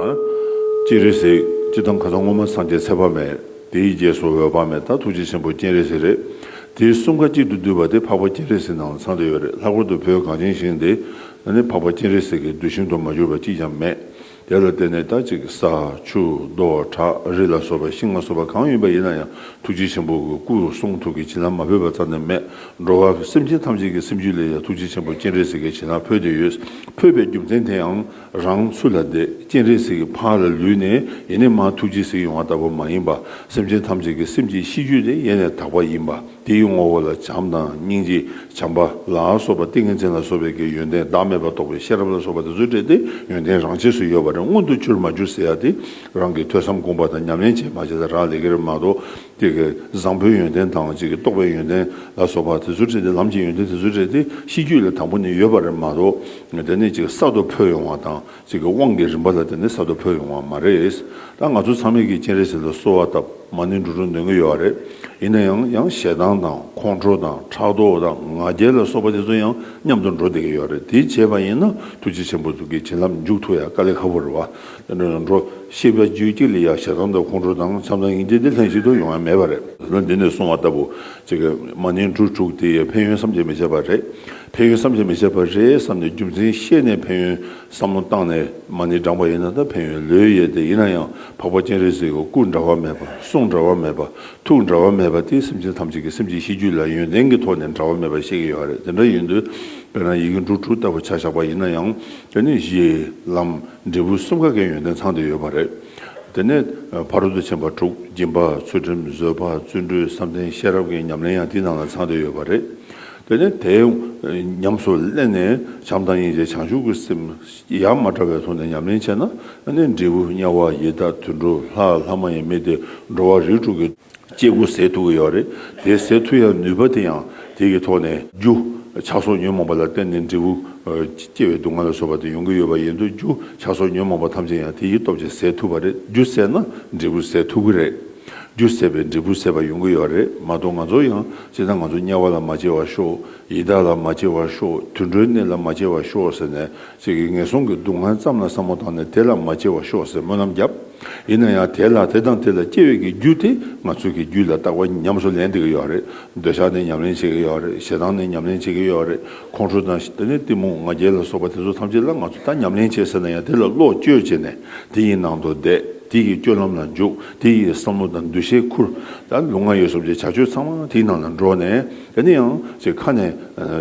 སྤྱན་རས་གཟིགས། ཅི་དང་ག་ད་སྔོན་མ་སངས་རྒྱས་ཚེ་དཔག་མེད། དེའི་རྗེས་སུ་འོད་དཔག་མེད་དང་ཐུགས་རྗེ་ཆེན་པོ་སྤྱན་རས་གཟིགས་རེད། དེ་གསུམ་ཁ་གཅིག་ཏུ་འདུས་པ་དེ་འཕགས་པ་སྤྱན་རས་གཟིགས་ནང་ཚང་དུ་ཡོད་རེད་ལྷག་པར་དུ་བོད་གངས་ཅན་ཞིང་འདི་ན་ནི་འཕགས་པ་སྤྱན་རས་གཟིགས་ཀྱི་གདུལ་ཞིང་དུ་མ་གྱུར་པ་གཅིག་ཀྱང་མེད། དེ་ལ་བརྟེན་ནས་ད་ཅིག་ས། ཆུ། རྡོ། བྲག་རི་ལ་སོགས་པ་ཤིང་ལྔ་སོགས་པ་གང་ཡིན་པ་ཡིན་ན་ཡང་ཐུགས་རྗེ་ཆེན་པོ་གི་སྐུ་གསུང་ཐུགས་ཀྱི་བྱིན་རླབས་མ་འཕོས་པ་ཙམ་ནི་མེད། འགྲོ་བ་པོ་སེམས་ཅན་ཐམས་ཅད་ཀྱི་སེམས་རྒྱུད་ལས་ཡང་ཐུགས་རྗེ་ཆེན་པོ་སྤྱན་རས་གཟིགས་ཀྱི་བྱིན་རླབས་འཕོས་ཏེ་ཡོད། འཕོས་པའི་རྒྱུ་མཚན་དེའང་རང་ཚུལ་ལ་འདས་སྤྱན་རས་གཟིགས་ཀྱི་ཕ་ར་ལུས་ནས་ཡེ་ནས་མ་ཐུགས་རྗེས་གཟིགས་ཡོང་བ་ལྟ་བུ་མ་ཡིན་པ། སེམས་ཅན་ཐམས་ཅད་ཀྱི་སེམས་ཀྱི་གཤིས་རྒྱུད་ལས་ཡེ་ནས་དག་པ་ཡིན་པ་དེའི་ངོ་བོ་ལ་བྱམས་དང་སྙིང་རྗེ་བྱམས་པ་ལ་སོགས་པ་ཏིང་ངེ་འཛིན་ལ་སོགས་པའི་ཀྱི་ཡོན་ཏན་བདག་མེད་པར་རྟོགས་པའི་ཤེས་རབ་ལ་སོགས་པ་དེ་ཚོ་བྲལ་ཏེ་ཡོན་ཏན་རང་ཆས་སུ་ཡོད་པ་རང་མངོན་དུ་གྱུར་མ་གྱུར་ཟེར་ཡ་དེ་རང་གིས་ཐོས་བསམ་སྒོམ་པ་དང་ཉམས་ལེན་བྱས་མ་བྱས་ད་རག་ལས་ཀྱི་རེད་མ་གཏོགས་དེ་ཀའི་བཟང་པོའི་ཡོན་ཏན་དང་གཅིག་གི་རྟོགས་པའི་ཡོན་ཏན་ལ་སོགས་པ་དེ་ཚོ་བྲིས་ཏེ་ལམ་གྱི་ཡོན་ཏན་དེ་ཚོ་བྲིས་ཏེ་ཤེས་རྒྱུད་ལ་དང་པོ་ནི་ཡོད་པ་རེད་མ་གཏོགས་དེ་ནི་གཅིག་གསར་དུ་འཕོས་ཡོང་བ་དང་གཅིག་གི་དབང་གི་རིམ་པ་ལ་དེ་ནི་གསར་དུ་འཕོས་ཡོང་བ་མ་རེད། ད་ང་ཚོ་ཚང་མས་ཀྱིས་སྤྱན་རས་གཟིགས་ལ་གསོལ་བ་བཏབ་མ་ནི་འགྲོ་དྲུག་འདོན་གྱི་ཡོད་རེད། ཡིན་ན་ཡང་ཡང་ཞེ་སྡང་དང་ཁོང་ཁྲོ་དང་ཕྲག་དོག་དང་ང་རྒྱལ་ལ་སོགས་པ་དེ་ཚོ་ཡང་མཉམ་དུ་འགྲོ་བསྡད་ཀྱི་ཡོད་རེད་དེ་བྱས་པ་ཡིན་ན་ཐུགས་རྗེ་ཆེན་པོ་གི་བྱིན་རླབས་མཇུག་ཐུག་ཡ་དཀའ་ལས་ཁ་བོ་རེད་བ། རང་འགྲོ། ཤེས་པའི་རྒྱུད་གཅིག་ལས་ཡང་ཞེ་སྡང་དང་ཁོང་ཁྲོ་དང་མཚམས་དང་ཡིད་འདི་འདི་ལྷན་ཅིག་ཏུ་ཡོང་བ་མེད་པ་རེད། ལུང་འདི་ནས་གསུང་བ་ལྟ་བུ། མ་ནིང་འབྲུ་དྲུག་དེ་ཕན་ཡོན་བསམ་གྱིས་མི་ཁྱབ་པ་རེད། ཕན་ཡོན་བསམ་གྱིས་མི་ཁྱབ་པ་རེད་བསམ་ནས་རྒྱུ་མཚན་ཤེས་ནས་ཕན་ཡོན་བསམ་བློ་བཏང་ནས་མ་ནིང་བགྲངས་པ་ཡིན་ན་ད་ཕན་ཡོན་ལོས་ཡལ་ཏེ་ཡིན་ན་ཡང་འཕགས་པ་སྤྱན་རས་གཟིགས་ཀྱི་སྐུ་འདྲ་བ་མེད་པ་གསུང་འདྲ་བ་མེད་པ་ཐུགས་འདྲ་བ་མེད་པ་དེ་སེམས་ཅན་ཐམས་ཅད་ཀྱི་སེམས་ཀྱི་གཤིས་རྒྱུད་ལ་ཡོན་ཏན་གྱི་ཐོག་ནས་འདྲ་བ་མེད་པ་ཤེས་ཀྱི་ཡོད་རེད་དེ་འདྲ་ཡིན་དུས་དཔེར་ན་ཡི་གེ་འབྲུ་དྲུག་ལྟ་བུ་བྱ་བཞག་པ་ཡིན་ན་ཡང་དེ་ནི་གཞི། ལམ། འབྲས་བུ་གསུམ་ག་གི་ཡོན་ཏན་ཚང་དུ་ཡོད་པ་རེད། དེ་ནས་ཕ་རོལ་ཏུ་ཕྱིན་པ་དྲུག་སྦྱིན་པ་ཚུལ་ཁྲིམས་བཟོད་པ་བརྩོན་འགྲུས་བསམ་གཏན་ཤེས་རབ་ཀྱི་ཉམས་ལེན་ཡང་དེའི་ནང་ལ་ཚང་དུ་ཡོད་པ་རེད། དེ་ནས་དེ་ཉམས་སུ་བསླད་ནས་བྱམས་དང་སྙིང་རྗེ་བྱང་ཆུབ་ཀྱི་སེམས་ཡ་མ་བྲལ་བའི་ཐོག་ནས་ཉམས་ལེན་བྱས་ན། འབྲས་བུ་དམྱལ་བ་ཡི་དྭགས་དུད་འགྲོ་ལྷ་ལྷ་མ་ཡིན་མི་སྡེ་འགྲོ་བ་རིགས་དྲུག་གི། སྐྱེ་དགུ་ཟད་ཐུ་གི་ཡོད་རེད་དེ་ཟད་ཐུ་ཡང་ནུས་པ་དེ་ཡང་དེ་གི་ཐོག་ནས་རྒྱུ་ཆགས་སོགས་ཉོན་མོངས་པ་ལ་བརྟེན་ནས་འབྲས་བུ་སྐྱེ་བའི་སྡུག་བསྔལ་ལ་སོགས་པ་དེ་ཡོང་གི་ཡོད་པ་ཡིན་དུ་རྒྱུ་ཆགས་སོགས་ཉོན་མོངས་པ་ཐམས་ཅད་ཡང་དེ་ཡི་སྟོབས་ཀྱིས་ཟད་ཐུ་བ་རེད་རྒྱུ་ཟད་ན་འབྲས་བུ་ཟད་ཐུ་གི་རེད་རྒྱུ་ཟད་པས་འབྲས་བུ་ཟད་པ་ཡོང་གི་ཡོད་རེད་མ་གཏོགས་ང་ཚོ་ཡང་སྤྱིར་ན་ང་ཚོ་དམྱལ་བ་ལ་མ་སྐྱེ་བར་ཤོག་ཡི་དྭགས་ལ་མ་སྐྱེ་བར་ཤོག་དུད་འགྲོའི་གནས་ལ་མ་སྐྱེ་བར་ཤོག་ཟེར་ནས་ཚིག་གིས་ངན་སོང་གི་སྡུག་བསྔལ་ཙམ་ལ་བསམ་བློ་བཏང་ནས་དེ་ལ་མ་སྐྱེ་བར་ཤོག་ཟེར་སྨོན་ལམ་བརྒྱབ། ཡིན་ན་ཡང་དེ་ལ་དེ་དང་དེ་ལ་སྐྱེ་བའི་གི་རྒྱུ་དེ་ང་ཚོས་གི་རྒྱུ་ལ་བཏགས་པ་ཉམས་སུ་ལེན་བདེ་གི་ཡོད་རེད། འདོད་ཆགས་ནི་ཉམས་ལེན་བྱེད་གི་ཡོད་རེད་ཞེ་སྡང་ནི་ཉམས་ལེན་བྱེད་གི་ཡོད་རེད་ཁོང་ཁྲོ་དང་ཞེ་ནི་གཏི་མུག་ང་རྒྱལ་ལ་སོགས་པ་དེ་ཚོ་ཐམས་ཅད་ལ་ང་ཚོ་ད་ཉམས་ལེན་བྱེད་ཟེར་ན་ཡང་དེ་ལ་བློ་བཅོས་བྱེད་ནས་དེ་ཡི་ནང་དུ་བསྡད་དེ་ཡི་སྤྱོད་ལམ་ལ་འཇུག་དེ་ཡི་བསམ་བློ་དང་འདུ་ཤེས་ཁུར། ད་ལུས་ངག་ཡིད་གསུམ་གྱི་བྱ་སྤྱོད་ཚང་མ་དེའི་ནང་ལ་འགྲོ་ནས། དེ་ནས་ཡང་ཅིག་ཁ་ནས་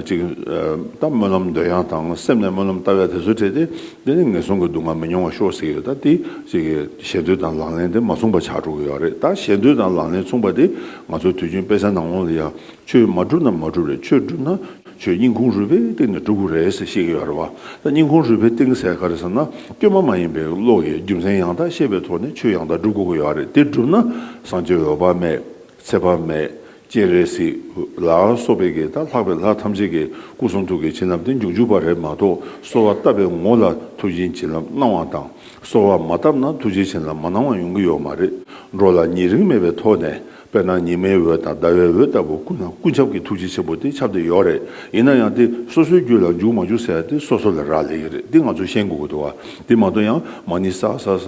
ཅིག། ལྟ་སྨོན་ལམ་འདོད་ཡངས་དང་སེམས་ནས་སྨོན་ལམ་ལྟ་བས་དེ་ཚོ་བྲལ་ཏེ། དེ་ནི་ངན་སོང་གི་སྡུག་བསྔལ་མི་མྱོང་བར་ཤོག་ཟེར་གྱི་ཡོད་ད་དེ། ཅིག། ཞེ་འདོད་དང་ལག་ལེན་དེ་མ་མཚུངས་པ་ཆགས་འགྲོ་གི་ཡོད་རེད་ད་ཞེ་འདོད་དང་ལག་ལེན་མཚུངས་པ་དེ་ང་ཚོ་དུས་རྒྱུན་དཔེ་གསར་ནང་ལོང་ལ་ཡང་ཆོས་མ་གྲུབ་ན་མ་གྲུབ་རེད་ཆོས་གྲུབ་ན་ཆོས་སྙིང་ཁུང་རུས་པའི་གཏིང་ནས་གྲུབ་གི་རེད་ཟེར་ཤེས་ཀྱི་ཡོད་རེད་བ་ད་སྙིང་ཁུང་རུས་པའི་གཏིང་ཟེར་ག་རེད་ཟེར་ན་སྐྱོན་མ་མ་ཡིན་པའི་བློ་ཡི་རྒྱུ་མཚན་ཡང་དག་ཤེས་པའི་ཐོག་ནས་ཆོས་ཡང་དག་འགྲུབ་དགོས་ཀྱི་ཡོད་རེད་དེ་གྲུབ་ན་བསང་མཆོད་འོད་དཔག་མེད། ཚེ་དཔག་མེད་སྐྱེས་རེད་སྲིད། ལ་སོགས་པའི་གེ་དང་ལྷག་པའི་ལྷ་ཐམས་ཅད་ཀྱི་སྐུ་གསུང་ཐུགས་ཀྱི་བྱིན་རླབས་དེ་མཇུག་འཇུག་པ་རེད་མ་གཏོགས་གསོལ་བ་བཏབ་པའི་ངོ་ལ་ཐུགས་རྗེའི་བྱིན་རླབས་སྣང་བ་དང་གསོལ་བ་མ་བཏབ་ན་ཐུགས་རྗེའི་བྱིན་རླབས་མ་སྣང་བ་ཡོང་གི་ཡོད་མ་རེད། འགྲོ་ལ་ཉེ་རིང་མེད་པའི་ཐོག་ནས་དཔེར་ན་ཉི་མའི་འོད་དང་ཟླ་བའི་འོད་ལྟ་བུ་ཀུན་ན་ཀུན་ཁྱབ་ཀྱི་ཐུགས་རྗེ་ཆེན་པོ་དེ་ཁྱབ་བསྡད་ཡོད་རེད་ཡིན་ན་ཡང་དེ་སོ་སོའི་རྒྱུད་ལ་འཇུག་མ་འཇུག་ཟེར་ཡ་དེ་སོ་སོ་ལ་རག་ལས་ཀྱི་རེད་འདི་ང་ཚོ་ཤེས་དགོས་ཀྱི་འདུག་བ་དེ་མ་གཏོགས་ཡང་མ་ནི་ས་ས་ས་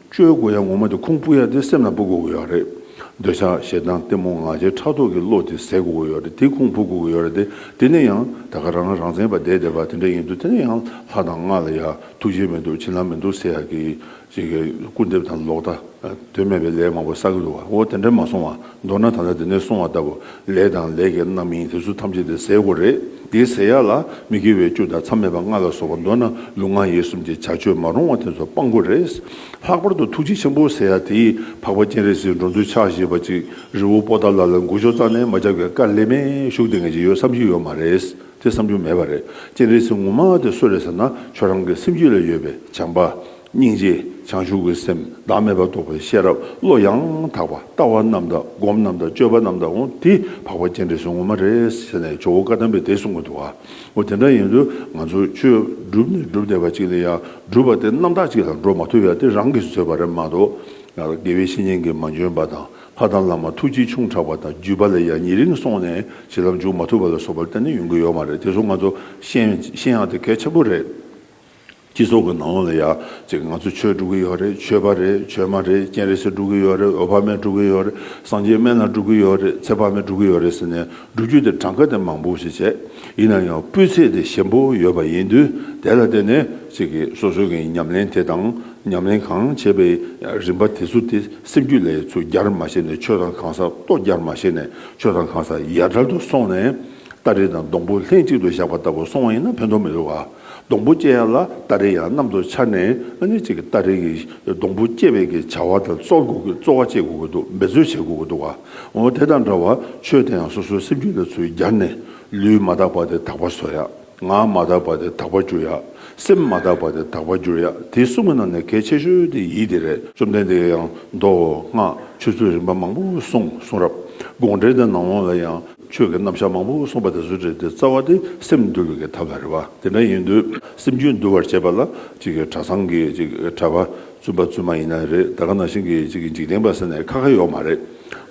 བཅོལ་དགོས་ཡ་ངོ་མ་དེ་ཁུང་སྤུ་ཡ་དེ་སེམས་ལ་འབུ་དགོས་ཀྱི་ཡོད་རེད། འདོད་ཆགས་ཞེ་སྡང་གཏི་མུག་ང་རྒྱལ་ཕྲག་དོག་གི་བློ་དེ་ཟད་དགོས་ཀྱི་ཡོད་རེད་དེ་ཁུང་འབུ་དགོས་ཀྱི་ཡོད་རེད་དེ་དེ་ནས་ཡང་ད་ག་རང་ལ་རང་བཙན་པ་འདས་འདས་པ་དེ་འདྲ་ཡིན་འདུག་དེ་ནས་ཡང་ལྷ་དང་རྔ་ལ་ཡ་ཐུགས་རྗེ་མི་འདུག་བྱིན་རླབས་མི་འདུག་ཟེར་ཡ་གི། སྐུར་འདེབས་དང་ལོག་ལྟ། དོན་མེད་པའི་ལས་མང་པོ་བསགས་ཀྱི་འདུག་བ་འོ་དེ་འདྲ་མ་སོང་བ་མདོར་ན་ད་ལྟ་འདི་ནས་གསུང་བ་ལྟ་བུ་ལས་དང་ལས་ཀྱི་རྣམ་སྨིན་དེ་ཚོ་ཐམས་ཅད་དེ་ཟས་གོ་རེད་དེའི་ཟས་ཡག་ལ་མི་དགེ་བའི་བཅུ་དང་མཚམས་མེད་པ་ལྔ་ལ་སོགས་པ་མདོར་ན་ལུས་ངག་ཡིད་གསུམ་གྱི་བྱ་སྤྱོད་མ་རུང་བ་དེ་ཚོ་སྤང་དགོས་རེད། ལྷག་པར་དུ་ཐུགས་རྗེ་ཆེན་པོ་ཟེར་ཡག་དེའི་འཕགས་པ་སྤྱན་རས་གཟིགས་འགྲོ་འདུལ་ཕྱག་བཞེས་པ་ཅིག་རི་བོ་པོ་ཏཱ་ལ་ལ་མགུར་ཤོག་རྩ་ནས་མ་བཅག་པའི་བཀའ་ལས་མེད་བཞུགས་དེ་ངེས་ཅི་ཡོད་བསམ་གྱི་ཡོད་མ་རེད་དེ་བསམ་རྒྱུ་མེད་པ་རེད་སྤྱན་རས་གཟིགས་ངོ་མ་དེ་གསོལ་རེད་ཟེར་ན་ཁྱོད་རང་གི་སེམས་རྒྱུད་ལ་ཡོད་པའི་བྱམས་པ། སྙིང་རྗེ་བྱང་ཆུབ་ཀྱི་སེམས་བདག་མེད་པར་རྟོགས་པའི་ཤེས་རབ་བློ་ཡང་དག་པ་ལྟ་བ་རྣམས་དང་སྒོམ་རྣམས་དང་སྤྱོད་པ་རྣམས་དང་ངོ་དེ་འཕགས་པ་སྤྱན་རས་གཟིགས་ངོ་མ་རེད་ཟེར་ནས་ཇོ་བོ་བཀའ་གདམས་པའི་དེ་གསུང་གི་འདུག་ཨ་འོ་དེ་འདྲ་ཡིན་དུས་ང་ཚོ་ཆོས་སྒྲུབ་ནས་སྒྲུབ་བསྡད་པ་གཅིག་ལས་ཡང་སྒྲུབ་པ་དེ་རྣམ་དག་གཅིག་ལ་འགྲོ་མ་ཐུབ་ཡང་དེ་རང་གིས་བཟོས་པ་རེད་མ་གཏོགས་ཡང་དགེ་བའི་བཤེས་གཉེན་གྱིས་མ་འཇོན་པ་དང་ཕ་དང་བླ་མ་ཐུགས་རྗེ་ཆུང་དྲགས་པ་དང་བརྒྱུད་པ་ལས་ཡང་ཉེ་རིང་སོང་ནས་བྱིན་རླབས་འཇུག་མ་ཐུབ་པ་ལ་སོགས་པ་གཏན་ནས་ཡོང་གི་ཡོད་མ་རེད་དེ་ཚོ་ང་ཚོ་ཤེས་ཡང་དེ་གལ་ཆེན་པོ་རེད། སྤྱི་ཚོགས་ཀྱི་ནང་ལ་ཡང་ང་ཚོ་ཆོས་སྒྲུབ་ཀྱི་ཡོད་རེད་ཆོས་པ་རེད་ཆོས་མ་རེད་སྤྱན་རས་གཟིགས་སྒྲུབ་ཀྱི་ཡོད་རེད་འོད་དཔག་མེད་སྒྲུབ་ཀྱི་ཡོད་རེད་སངས་རྒྱས་སྨན་བླ་སྒྲུབ་ཀྱི་ཡོད་རེད་ཚེ་དཔག་མེད་སྒྲུབ་ཀྱི་ཡོད་རེད་ཟེར་ནས་སྒྲུབ་བརྒྱུད་དེ་གྲངས་ཀ་དེ་མང་པོ་ཞིག་བྱས་ཡིན་ན་ཡང་སྤུས་ཚད་དེ་ཞན་པོ་ཡོད་པ་ཡིན་དུས་དེ་ལ་བརྟེན་ནས་སོ་སོ་གྱི་ཉམས་ལེན་དེ་དང་ཉམས་ལེན་གང་བྱས་པའི་རིམ་པ་དེ་ཚོ་དེ་སེམས་རྒྱུད་ལས་ཚུར་རྒྱར་མ་བྱས་ནས་ཆོས་དང་གང་ཟག་ལྟོ་རྒྱར་མ་བྱས་ནས་ཆོས་དང་གང་ཟག་ཡར་གྲལ་དུ་སོང་ནས་སྟ་རེ་དང་སྡོང་པོ་ལྷན་ཅིག་ཏུ་བཞག་པ་ལྟ་བུ་སོང་བ་ཡིན་ན་ཕན་ཐོགས་མི་འདུག་ག། སྡོང་པོ་སྐྱེ་ཡང་ལ་སྟ་རེ་ཡང་གནམ་དུ་འཕྱར་ནས་ཨ་ནེ་ཅིག་གི་སྟ་རེ་གིས་སྡོང་པོ་སྐྱེ་བའི་གི་བྱ་བ་དང་གཙོ་དགོས་གི་གཙོ་བ་བྱེད་དགོས་གི་འདུག་འབད་རྩོལ་བྱེད་དགོས་གི་འདུག་ག་འོ་དེ་དང་འདྲ་བར་ཆོས་དེ་ཡང་སོ་སོའི་སེམས་རྒྱུད་ལ་ཚུལ་སྦྱར་ནས་ལུས་མ་དག་པ་དེ་དག་པར་བཟོ་ཡ། ངག་མ་དག་པ་དེ་དག་པར་བསྒྱུར་ཡ། སེམས་མ་དག་པ་དེ་དག་པར་བསྒྱུར་ཡ་དེ་གསུམ་གི་ནང་ནས་གལ་ཆེ་ཤོས་དེ་ཡིད་དེ་རེད། བཅོམ་ལྡན་འདས་ཀྱིས་ཡང་མདོ་སྔགས་ཆོས་ཚུལ་རིམ་པ་མང་པོ་གསུངས་གསུང་རབ་དགོངས་འགྲེལ་དང་ནང་དབང་ལ་ཡང། ཆོས་ཀྱི་རྣམ་གཞག་མང་པོ་གསུངས་པ་དེ་ཚོའི་གྲས་དེ་རྩ་བ་དེ་སེམས་འདུལ་བའི་གི་ཐབས་ལ་རེ་བ་དེ་འདྲ་ཡིན་དུས་སེམས་རྒྱུད་འདུལ་བར་བྱེད་པ་ལ་གཅིག་གི་གྲྭ་ཚང་གི་གཅིག་གྲྭ་པ་བཙུན་པ་བཙུན་མ་ཡིན་ན་རེད་ད་ག་ནང་བཞིན་གྱི་གཅིག་གི་འཇིག་རྟེན་པ་ཟེར་ནས་ཁ་ཁ་ཡོག་མ་རེད་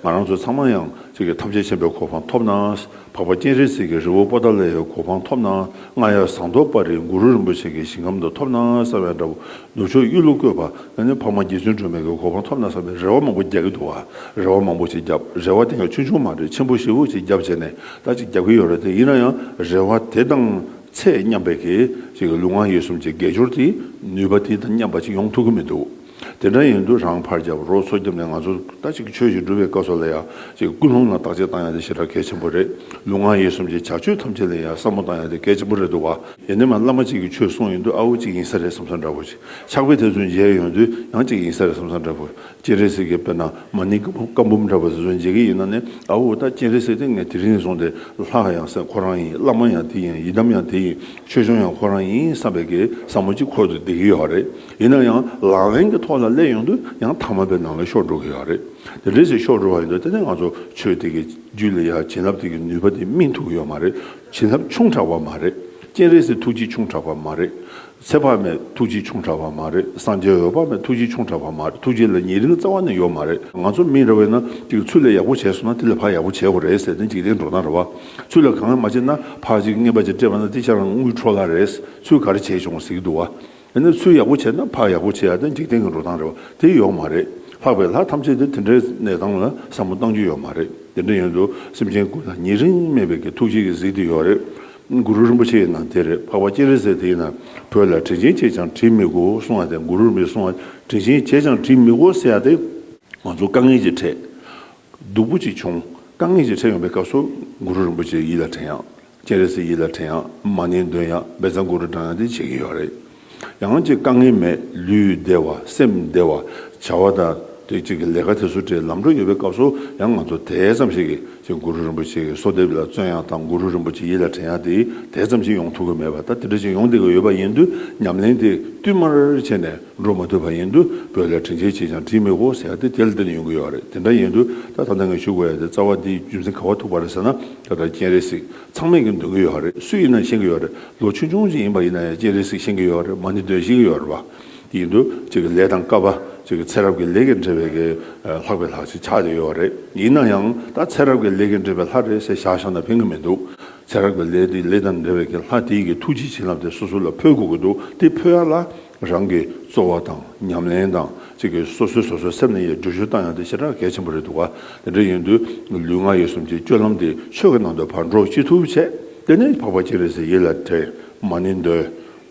ང་རང་ཚོ་ཚང་མ་ཡང་གཅིག་གི་ཐམས་ཅད་མཁྱེན་པའི་གོ་འཕང་ཐོབ་ན་འཕགས་པ་སྤྱན་རས་གཟིགས་ཀྱི་རི་བོ་པོ་ཏཱ་ལའི་ཡའི་གོ་འཕང་ཐོབ་ན་རྔ་ཡབ་ཟངས་མདོག་དཔའ་རིས་གུ་རུ་རིན་པོ་ཆེ་གི་ཞིང་ཁམས་དུ་ཐོབ་ན་གསར་བའི་འདྲ་བོ་ནུབ་ཕྱོགས་གཡུ་ལོ་བཀོད་པ་ན་ནི་འཕགས་མ་རྗེ་བཙུན་སྒྲོལ་མས་གི་གོ་འཕང་ཐོབ་ན་བསམ་པའི་རེ་བ་མང་པོ་རྒྱག་གི་འདུག་བ་རེ་བ་མང་པོ་ཅིག་བརྒྱབ་རེ་བ་དེ་ག་ཆུང་ཆུང་མ་རེད་ཆེན་པོ་ཞེ་བོ་ཅིག་བརྒྱབ་བྱས་ནས་ད་ཅིག་བརྒྱབ་གི་ཡོད་རེད་ཡིན་ན་ཡང་རེ་བ་དེ་དང་ཚད་མཉམ་པའི་གི་ཅིག་གི་ལུས་ངག་ཡིད་གསུམ་ཅིག་དགེ་སྦྱོར་དེ་ནུས་པ་དེ་དང་མཉམ་པ་ཅིག་ཡོང་ཐུབ་གི་མི་འདུག་དེ་འདྲ་ཡིན་དུས་རང་ཕར་རྒྱབ་རོགས་ཚོགས་བརྒྱབ་ནས་ང་ཚོ་ད་ཅིག་ཆོས་ཞིག་སྒྲུབ་པའི་སྐབས་སོགས་ལ་ཡང་ཅིག་ཀུན་སློང་ལ་བརྟག་དཔྱད་བཏང་ཡང་དེ་ཞེ་དྲག་གལ་ཆེན་པོ་རེད་ལུས་ངག་ཡིད་གསུམ་ཅིག་བྱ་སྤྱོད་ཐམས་ཅད་ལ་ཡང་བསམ་བློ་བཏང་ཡང་དེ་གལ་ཆེན་པོ་རེད་འདུག་བ། ཡེ་ནས་མ་བླ་མ་གཅིག་གི་ཆོས་གསུངས་ཡོང་དུས་ཨ་བོ་གཅིག་ཡིན་ས་རེད་བསམ་ས་འདྲ་བོ། ཕྱག་དཔེ་དེ་ཚོ་མཇལ་ཡོང་དུས་ཡང་གཅིག་ཡིན་ས་རེད་བསམ་ས་འདྲ་བོ། སྤྱན་རས་གཟིགས་ཀྱི་དཔེར་ན་མ་ཎི་བཀའ་འབུམ་འདྲ་བོ་དེ་ཚོ་མཇལ་གྱི་ཡིན་ན་ནི་ཨ་བོ་ད་སྤྱན་རས་གཟིགས་དེ་ངས་དེ་རིང་ནས་བཟུང་སྟེ་ལྷག་ཡང་བསམ་ཁོ་རང་ཡིན་བླ་མ་ཡང་དེ་ཡིན་ཡི་དམ་ཡང་དེ་ཡིན་ཆོས་སྐྱོང་ཡང་ཁོ་རང་ཡིན་བསམ་པའི་གེ་སར་མོ་གཅིག་འཁོར་དུ་བསྡད་ཀྱི་ཡོད་རེད་ཡིན་ན་ཡང་ལག་ལེན་གྱི་ཐོག་ལ་སླེབས་ཡོང་དུས་ཡང་ཐ་མ་པའི་ནང་ལ་ཤོར་འགྲོ་གི་ཡོད་རེད་དེ་འདྲའི་ཞིག་ཤོར་འགྲོ་བ་ཡིན་དུས་ད་ནི་ང་ཚོ་ཆོས་དེ་གའི་རྒྱུད་ལ་ཡ་བྱིན་རླབས་དེ་གའི་ནུས་པ་དེ་སྨིན་ཐུབ་ཀྱི་ཡོད་མ་རེད། བྱིན་རླབས་ཆུང་དྲགས་པ་མ་རེད། སྤྱན་རས་གཟིགས་ཐུགས་རྗེ་ཆུང་དྲགས་པ་མ་རེད། ཚེ་དཔག་མེད་ཐུགས་རྗེ་ཆུང་དྲགས་པ་མ་རེད། སངས་རྒྱས་འོད་དཔག་མེད་ཐུགས་རྗེ་ཆུང་དྲགས་པ་མ་རེད་ཐུགས་རྗེ་ལ་ཉེ་རིང་རྩ་བ་ནས་ཡོད་མ་རེད། ང་ཚོ་མིས་རེ་བས་ན་གཅིག་ཚུལ་ལས་ཡག་པོ་བྱས་སོང་ན་དེ་ལས་ཕག་ཡག་པོ་བྱས་དགོས་རེད་ཟེར་ཏེ་འཇིག་རྟེན་འགྲོ་སྟངས་རེ་བ། ཚུལ་ལ་གང་ཡང་མ་བྱས་ན་ཕག་ཅིག་རྔན་པ་ཅིག་སྤྲད་པ་ན་དེ་ཅག་རང་དངུལ་འཕྲོག་ལ་རེད་ཚུལ་ག་རེ་བྱས་བྱུང་ཟིག་འདུག་བ། དེ་ནི་ཚུལ་ཡག་པོ་བྱས་ན་ཕག་ཡག་པོ་བྱས་ཡག་དེ་འཇིག་རྟེན་གྱི་འགྲོ་སྟངས་རེད་བ་དེ་ཡོག་མ་རེད་ལྷག་པའི་ལྷ་ཐམས་ཅད་དེ་དེ་འདྲའི་གནས་སྟངས་ལ་བསམ་བློ་གཏང་རྒྱུ་ཡོག་མ་རེད་དེ་འདྲ་ཡོན་དུ་སེམས་ཅན་ཀུན་ལ་ཉེ་རིང་སྨད་པའི་གི་ཐུགས་རྗེ་གི་གཟིགས་དེ་ཡོག་རེད་གུ་རུ་རིན་པོ་ཆེ་ཡི་ནང་དེ་རེད་ཕག་པ་སྤྱན་རས་གཟིགས་དེ་ཡི་ནང་བོད་ལ་དྲིན་ཆེན་བྱས་ཀྱང་དྲིན་མི་གོ་གསུང་བ་དེ་གུ་རུར་མི་གསུང་བ་དྲིན་ཆེན་བྱས་ཀྱང་དྲིན་མི་གོ་ཟེར་ཡག་དེ་ང་ཚོ་དཀའ་ངལ་གྱི་ཁྲད་སྡུག་པོ་ཅིག་བྱུང། དཀའ་ངལ་ཅིག་འཕྲད་ཡོང་པའི་སྐབས་སུ། གུ་རུ་རིན་པོ་ཆེ་ཡིད་ལ་དྲན་ཡང། སྤྱན་རས་གཟིགས་ཡིད་ལ་དྲན་ཡང། མ་ནིང་འདོན་ཡང། འབེ་ཚ་གུ་རུ་བགྲང་ཡང་དེ་བྱེད་ཀྱི་ཡོད་རེད། ཡང་ཅིག་དཀའ་ངལ་མེད་ལུས་བདེ་བ་སེམས་བདེ་བ། བྱ་བ་དང། དེ་བཅས་ཀྱི་ལས་ཀ་དེ་ཚོ་བྲེལ་ལམ་འགྲོ་ཡོད་པའི་སྐབས་སུ་ཡང་ང་ཚོ་དེ་ཙམ་ཞིག་གིས་ཅིག་གུ་རུ་རིན་པོ་ཆེ་གི་གསོལ་འདེབས་ལ་བརྩོན་ཡང་དང་གུ་རུ་རིན་པོ་ཆེ་ཡིད་ལ་དྲན་ཡང་དེ་དེ་ཙམ་ཞིག་ཡོང་ཐུབ་ཀྱི་མེད་པ་དང་དེ་འདྲ་ཞིག་ཡོང་བསྡད་ཀྱི་ཡོད་པ་ཡིན་དུས་ཉམས་ལེན་དེ་བསྟུད་མར་བྱས་ནས། འགྲོ་མ་ཐུབ་པ་ཡིན་དུས་བོད་ལ་དྲིན་ཆེན་གྱིས་ཀྱང་བྲིས་མེད་གོ་ཟེར་ཡ་དེ་དེ་ལ་འདི་ནས་ཡོང་གི་ཡོད་རེད་དེ་འདྲ་ཡིན་དུས་ད་ད་ནང་གི་ཞུ་དགོས་ཡ་དེ་རྩ་བ་འདི་རྒྱུ་མཚན་ག་བ་ཐུག་པ་རེད་ཟེར་ན་ད་ལྟར་སྤྱན་རས་གཟིགས་ཚང་མས་ཀྱང་འདོན་གི་ཡོད་རེད་སུ་ཡིན་ན་ཤེས་ཀྱི་ཡོད་རེད་ལོ་ཆུང་ཆུང་ཅིག་ཡིན་པ་ཡིན་ན་ཡང་སྤྱན་རས་གཟིགས་ཤེས་ཀྱི་ཡོད་རེད་མ་ནི་འདོན་ཤེས་ཀྱི་ཡོད་རེད་བ། དེ་ཡིན་དུས་གཅིག་གི་ལས་དང་སྐབས་བ་གཅིག་གི་ཚེ་རབས་ཀྱི་ལས་ཀྱི་འབྲེལ་བའི་གི་ལྷག་པའི་ལྷག་ཅིག་ཆགས་ཀྱི་ཡོད་རེད་ཡིན་ན་ཡང་ད་ཚེ་རབས་ཀྱི་ལས་ཀྱི་འབྲེལ་བའི་ལྷ་རེད་ཟེར་བཞག་བཞག་ན་ཕན་གི་མི་འདུག་ཚེ་རབས་ཀྱི་ལས་དེ་ལས་དང་འབྲེལ་བའི་གི་ལྷ་དེ་ཡི་གི་ཐུགས་རྗེ་བྱིན་རླབས་དེ་སོ་སོ་ལ་འཕོས་དགོས་ཀྱི་འདུག་དེ་འཕོས་ཡ་ལ། རང་གི་རྩོལ་བ་དང་ཉམས་ལེན་དང་གཅིག་གིས་སོ་སོའི་སོ་སོའི་སེམས་ནས་ཡི་འབྲུ་ཞུ་བཏང་ཡང་དེ་ཆེས་གྲགས་གལ་ཆེན་པོ་རེད་འདུག་ག་དེ་འདྲ་ཡིན་དུས་ལུས་ངག་ཡིད་གསུམ་གྱི་སྤྱོད་ལམ་དེ་ཆོས་ཀྱི་ནང་དུ་བར་འགྲོ་ཅི་ཐུབ་བྱེད་དེ་ནི་འཕགས་པ་གཅིག་རེད་ཟེར་ཡིད་ལ་དྲན་མ་ནི་འདོད་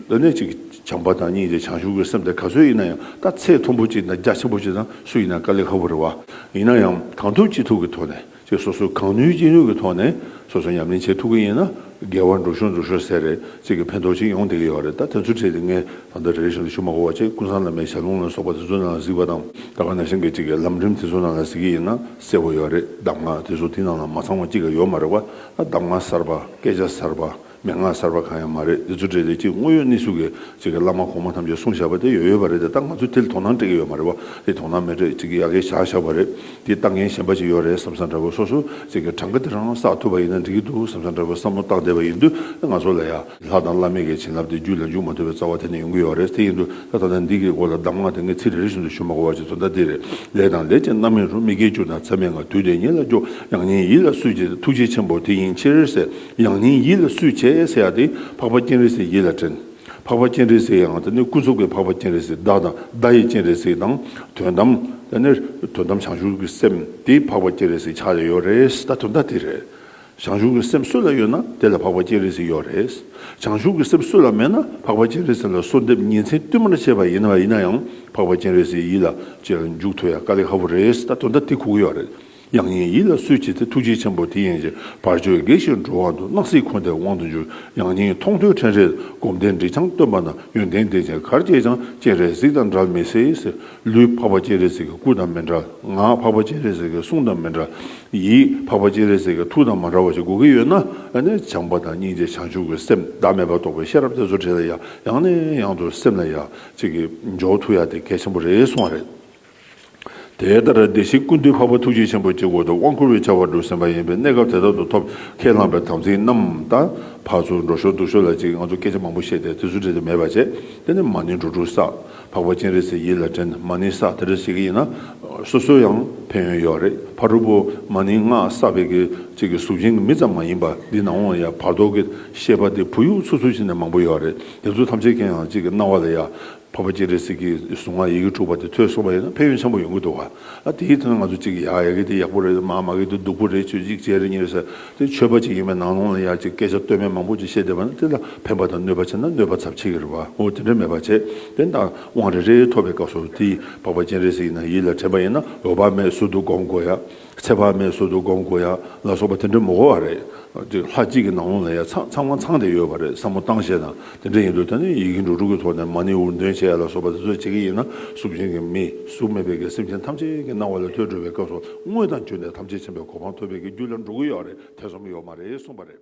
དེ་ནི་གཅིག་བྱམས་པ་དང་གཉིས་ཀྱིས་བྱང་ཆུབ་ཀྱི་སེམས་དེ་ག་ཚོད་ཡིན་ན་ཡང་ད་ཚེས་མཐོན་པོ་གཅིག་དང་རྒྱ་ཆེན་པོ་གཅིག་དང་སུ་ཡིན་ན་དཀའ་ལས་ཁག་པོ་རེད་བ་ཡིན་ན་ཡང་གང་ཐུབ་ཅི་ཐུབ་ཀྱི་ཐོག་ནས་ཅེས་སོ་སོས་གང་ནུས་ཅི་ནུས་ཀྱི་ཐོག་ནས་སོ་སོ་ཉམས་ལེན་བྱེད་ཐུབ་ཀྱི་ཡིན་ན་དགེ་བ་འགྲུབ་ཤོག་འགྲུབ་ཤོག་ཟེར་རེ་གཅིག་གི་ཕན་ཐོག་ཅིག་ཡོང་བསྡད་ཀྱི་ཡོད་རེད་ད་དེ་ཚོ་བྲིས་ཏེ་ངས་ད་ལྟ་རེ་རེ་བཞིན་དུ་ཞུ་མ་གོ་བ་བྱས་ཀུན་བཟང་བླ་མའི་ཞལ་ལུང་ལ་སོགས་པ་དེ་ཚོ་ནང་ལ་གཟིགས་པ་དང་ད་ག་ནང་བཞིན་གྱི་གཅིག་གི་ལམ་རིམ་དེ་ཚོ་ནང་ལ་གཟིགས་ཀྱི་ཡིན་ན་གསལ་བོ་ཡོད་རེད་གདམས་ངག་དེ་ཚོ་དེ་ནང་ལ་མ་ཚང་བ་གཅིག་གི་ཡོད་མ་རེད་བ་ད་གདམས་ངག་གསར་པ་སྐད་ཆ་གསར་པ། མན་ངག་གསར་པ་གང་ཡང་མ་རེད་འདི་ཚོ་འདྲེ་ལས་ཀྱི་དངོས་ཡོད་གནས་ཚུལ་གི་ཅིག་གི་བླ་མ་གོང་མ་ཐམས་ཅད་གསུངས་བཞག་པ་དེ་ཡོད་ཡོད་པ་རེད་དེ་ད་ང་ཚོས་དེ་ལ་དོ་སྣང་སྤྲད་ཀྱི་ཡོད་མ་རེད་བ་དེ་དོ་སྣང་མི་སྤྲད་ཅིག་གི་ཡག་གི་བཞག་བཞག་པ་རེད་དེ་ལྟ་མཁན་གཞན་པ་ཅིག་ཡོད་རེད་བསམ་བསམ་འདྲ་བོ་སོ་སོ་ཅིག་གི་གྲངས་ཀ་དེ་རང་བསགས་ཐུབ་པ་ཡིན་ན་འགྲིག་གི་འདུག་བསམ་བསམ་འདྲ་བོ་བསམ་བློ་བཏང་བསྡད་པ་ཡིན་དུས་ད་ང་ཚོ་ལ་ཡ། ལྷ་དང་བླ་མེད་ཀྱི་བྱིན་རླབས་དེ་རྒྱུད་ལ་འཇུག་མ་ཐུབ་པའི་རྩ་བ་དེ་ནས་ཡོང་གི་ཡོད་རེད་དེ་ཡིན་དུས་ད་ད་ལྟ་འདི་གི་སྐོར་ལ་གདམས་ངག་དེ་ངས་ཚིག་རེ་རེ་བཞིན་དུ་ཞུ་མ་གོ་བ་ཅིག་ཚོ་ད་འདི་རེད་ལས་དང་ལས་ཀྱི་རྣམ་སྨིན་རུ་མི་སྐྱེ་གྱུར་ན་ཚད་མེད་ངང་དུས་དེ་ཉིད་ལ་སྐྱོ་ཡང་ཉིད་ཡིད་ལ་སུས་ཀྱི་ཐུགས་རྗེ་ཆེན་པོ་དེ་ཡིན་ཕྱིར་ཟེར། ཡང་སྙིང་ཡིད་ལ་སུས་བྱས་ཟེར་ཡག་དེ་འཕགས་པ་སྤྱན་རས་གཟིགས་ཡིད་ལ་དྲན། འཕགས་པ་སྤྱན་རས་གཟིགས་ཡང་དེ་ནི་སྐུ་གཟུགས་ཀྱི་འཕགས་པ་སྤྱན་རས་གཟིགས་བདག་དང་བདག་ཡི་སྤྱན་རས་གཟིགས་དང་དོན་དམ་དེ་ནི་དོན་དམ་བྱང་ཆུབ་ཀྱི་སེམས་དེ་འཕགས་པ་སྤྱན་རས་གཟིགས་ཕྱག་ལས་ཡོད་རེད་ད་དོན་དག་དེ་རེད། བྱང་ཆུབ་ཀྱི་སེམས་སུ་ལ་ཡོད་ན་དེ་ལ་འཕགས་པ་སྤྱན་རས་གཟིགས་ཡོད་རེད། བྱང་ཆུབ་ཀྱི་སེམས་སུ་ལ་མེད་ན་འཕགས་པ་སྤྱན་རས་གཟིགས་ལ་གསོལ་འདེབས་ཉིན་མཚན་བསྟུད་མར་བྱས་པ་ཡིན་ཡིན་ན་ཡང་འཕགས་པ་སྤྱན་རས་གཟིགས་ཡིད་ལ་བྱས་ལ་མཇུག་ཐུག་ཡ་དཀའ་ལས་ཧ་བོ་རེད་ད་དོན་དག་དེ་གོ་གི་ཡོད་རེད། དབྱངས་ཡིན་ཡིད་ལ་སོད་བྱེད་དེ་ཐུགས་རྗེ་ཆེན་པོ་དེ་ཡན་ཆད་བར་ཆོད་དགེ་བཤེས་འགྲོ་བ་འདུ་སྣང་སྲིད་འཁོར་འདས་དབང་དུ་འགྱུར་དབྱངས་སྙན་མཐོང་ཐོས་ཕྲན་རེས་སྒོམ་བཟླས་འབྲི་བྱང་སྟོན་པ་ན་ཡོན་ཏན་ལྡན་བྱེད་གར་སྐྱེས་ཆང་སྐྱེས་རས་གཟིགས་དང་འདྲ་མི་སྲིད། ལུས་འཕགས་པ་སྐྱེས་རས་གཟིགས་ཀྱི་སྐུ་དང་མི་འདྲ། ངག་འཕགས་པ་སྐྱེས་རས་གཟིགས་ཀྱི་གསུང་དང་མི་འདྲ། ཡིད་འཕགས་པ་སྐྱེས་རས་གཟིགས་ཀྱི་ཐུགས་དང་མ་འདྲ་བ་ཞིག་དགོས་ཀྱི་ཡོད་ན། བྱམས་པ་དང་སྙིང་རྗེ་བྱང་ཆུབ་ཀྱི་སེམས་བདག་མེད་པར་རྟོགས་པའི་ཤེས་རབ་དེ་ཚོ་དྲིལ་ཡང་ཡང་ནས་ཡང་དུ་སེམས་ལ་ཡ་གཅིག་གིས་འཇོག་ཐུབ་ཡ་དེ་གལ་ཆེན་པོ་རེད་གསུང་བ་རེད། དེ་ལྟར་བདེ་གཤེགས་ཀུན་འདུས་འཕགས་པ་ཐུགས་རྗེ་ཆེན་པོ་ཀྱི་སྒོ་དང་དབང་བསྐུར་བའི་བྱ་བ་སྒྲུབ་ཟིན་པ་ཡིན་པས་གནས་སྐབས་དེ་དག་ཏུ་ཐོབ་ཁས་བླངས་པའི་དམ་ཚིག་རྣམས་དང། ཕར་ཚུར་འགྲོ་ཞོར་འདུག་ཞོར་ལ་ཅིག་ང་ཚོ་སྐད་ཆ་མང་པོ་བཤད་དེ་དུས་ཚོད་འབྲི་དུ་མེད་པ་བྱས། དེ་ནི་མ་ནི་འགྲོ་དྲུག་བསགས། འཕགས་པ་སྤྱན་རས་གཟིགས་ཡིད་ལ་དྲན། མ་ནི་བསགས་དེ་འདྲ་བྱེད་ཀྱི་ཡིན་ན། སོ་སོའི་ཡང་ཕན་ཡོན་ཡོད་རེད། ཕ་དྲུག་པོ་མ་ནི་སྔགས་བསགས་པའི་གི་ཅིག་གི་གཟུགས་ཅན་གྱི་མི་ཙམ་མ་ཡིན་པ་འདི་ནང་བ་ཡང་བར་དོ་གི་ཤེས་པ་དེ་བུ་ཡུག་ཚུར་ཚུར་བྱེད་ནས་མང་པོ་ཡོད་རེད་དེ་ཚོ་ཐམས་ཅད་མཁྱེན་ཡང་ཅིག་གི་སྣང་བ་ལ་ཡ་ཕོ་བ་སྐྱེས་རེ་ཟིག་གིས་གཟུངས་སྔགས་ཡི་གེ་དྲུག་པ་དེ་ཐོས་གསུངས་པ་ཡིན་ན་ཕན་ཡོན་ཆེན་པོ་ཡོང་གི་འདུག་ག་ལ་དེའི་དོན་ང་ཚོ་གཅིག་གིས་ཡ་ཡ་གི་དེ་ཡག་པོ་རེད་མ་མ་གི་དེ་སྡུག་པོ་རེད་ཆོས་གཅིག་བྱས་རེ་གཉིས་རེད་ཟེར་དེ་ཆོས་པ་གཅིག་ཡིན་པའི་ནང་ལོང་ལ་ཡར་གཅིག་སྐད་ཆ་སྟོད་སྨད་མང་པོ་གཅིག་བཤད་བསྡད་པ་ན་དེ་ལ་ཕན་པ་དང་གནོད་པ་ཆེ་ན་གནོད་པ་ཚབས་ཆེ་གི་རེད་བ་ངོ་དེ་འདྲ་མེད་པ་བྱས་དེ་འདྲ་དབང་རེ་རེ་ཐོབ་པའི་སྐབས་སུ་དེའི་ཕོ་བ་སྐྱེས་རེ་ཟིག་ཡིན་ན་ཡིད་ལ་དྲན་པ་ཡིན་ན་འོས་བ་མེད་ཟུར་དུ་སྒོམ་དགོས་ཡ་ཚེ་དཔག་མེད་གསོལ་དུ་སྒོམ་དགོས་ཡ་ལ་སོགས་པ་དེ་འདྲ་མི་གོ་བ་རེད། དེ་ལྷ་གཅིག་གི་ནང་ལོང་ལ་ཡ་ཚང་མ་ཚང་དེ་ཡོད་པ་རེད་བསམ་མོ་བཏང་བྱས་ན་དེ་འདྲ་ཡིན་འདུག་ད་ནི་ཡི་གེ་འབྲུ་དྲུག་གི་ཐོག་ནས་མ་ནི་འུར་འདོན་བྱས་ཡ་ལ་སོགས་པ་དེ་ཚོ་བྱེད་ཀྱི་ཡིན་ན་གཟུགས་ཅན་གྱི་མིས་གཟུགས་མེད་པའི་གི་སེམས་ཅན་ཐམས་ཅད་ཀྱི་སྣང་བ་ལ་ཐོས་སྒྲུབ་པའི་སྐབས་སུ་དངོས་དང་བརྒྱུད་ནས་ཐམས་ཅད་མཁྱེན་པའི་གོ་འཕང་ཐོབ་པའི་གི་རྒྱུ་ལ་འགྲོ་གི་ཡོད་རེད་ཐེ་ཚོམ་ཡོད་མ་རེད་གསུངས་པ་རེད།